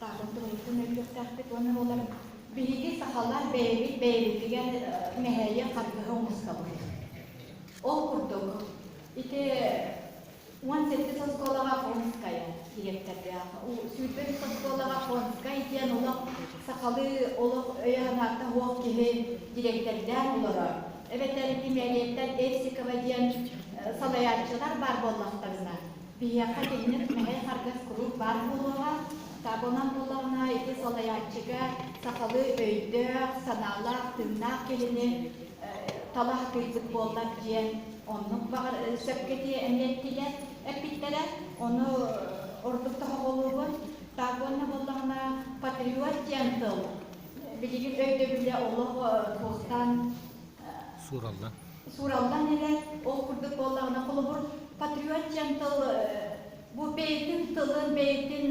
Таарын туруйутун өйдүөхтээхпит уонна буолар биһиги сахалар бэйэбит бэйэбитигэр мэһэйи харгыһа умустабыт. Ол курдук, ити уон сэттис оскуолаҕа Понская дириэктэрдээх, сүүрбэ үс оскуолаҕа Понскай диэн олох сахалыы олох өйө-санаата суох киһи дириэктэрдээн олорор. Эбэтэр Гималиеттар Эрсикова диэн салайааччылар баар буоллахтарына, Биһиэхэ киһини мэһэй харгас куруук баар буолуоҕа, табынан буоллаҕына ити салайааччыга сахалыы өйдөөх, санаалаах, тыыннаах киһини талаһытыырбыт буоллар диэн оннук баҕар сөпкө дии эниэттилэр эппиттэрэ. Ону ордук тоһоҕолуубун. Так уонна буоллаҕына патриот диэн тыл билигин өйдөбүлэ олох туохтан суураллан эрэр, ол курдук буоллаҕына, холобур, Patriot диэн тыл бу бэйэтин тылын, бэйэтин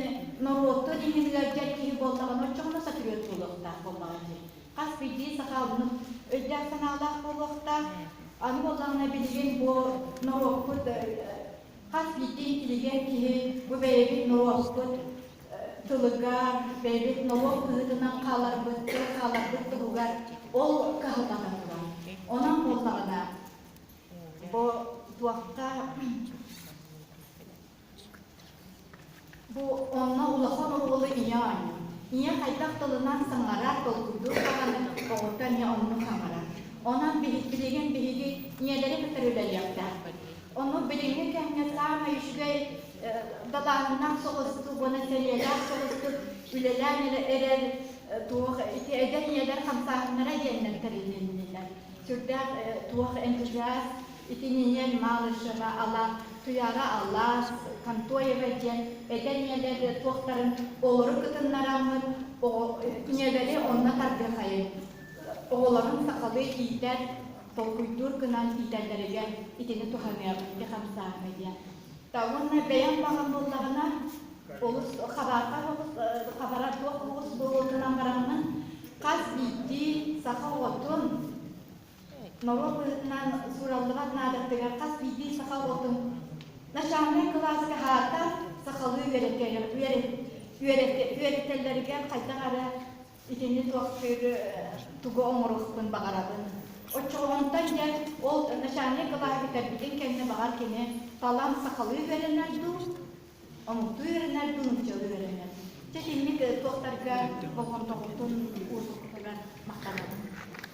норуотун иһин ыалдьар киһи буоллаҕына, оччоҕуна патриот буолуохтаах буоллаҕа дии. Хас биирдии сахалынын өйдөөх-санаалаах буолуохтаах. Аны буоллаҕына, билигин бу норуоппут хас биирдии интеллигент киһи бу бэйэбит норуоппут тылыга бэйэбит noloq быһыытынан хааларбыт тыл хааларбыт туһугар ол каһылҕата турар онон буоллаҕына бу туохта бу онно улахан оруолу ийэ оонньуур ийэ хайдах тылынан саҥарар долгуйдуур даҕаны оҕото эмиэ онну саҥарар онон билигин биһиги ийэлэри кытары үлэлиэхтээхпит ону билиҥҥи кэмҥэ саамай үчүгэй далааһыннаах соҕустук уонна сэриэлээх соҕустук үлэлээн эрэр туох ити эдэр ийэлэр хамсааһыннара диэннэр тэрилиннилэр. Сүрдээх туох энтузиаст итининэн малышева ала туяра алаш контоева диэн эдэр ийэлэр туохтарын олору кытыннараммыт ийэлэри онно тардыхайын оҕолорун сахалыы иитэр толкуйдуур гынан иитэллэригэр итини туһаныах ити хамсааһына диэн уонна бэйэм баҕам буоллаҕына олус хабарга хабара туох оҕус буолуонунан бараммын хас биирдии саха оҕотун норуот быһытынан суураллыбат наадаттыгар хас биирдии саха оҕотун начальнай кылааска аата сахалыы үөрэтэллэригэр хайдах эрэ Итини туохтыыры, тугу оҥоруохпун баҕарабын. Оччоҕонтон дьэ ол начальник былааһы бүтэрбитин кэннэ баҕар кини талан сахалыы үөрэнэр дуу, омуктуу үөрэнэр дуу, нууччалыы үөрэнэр. Дьэ итинник туохтарга болҕомтоҕутун уурбуппутугар махтанабын.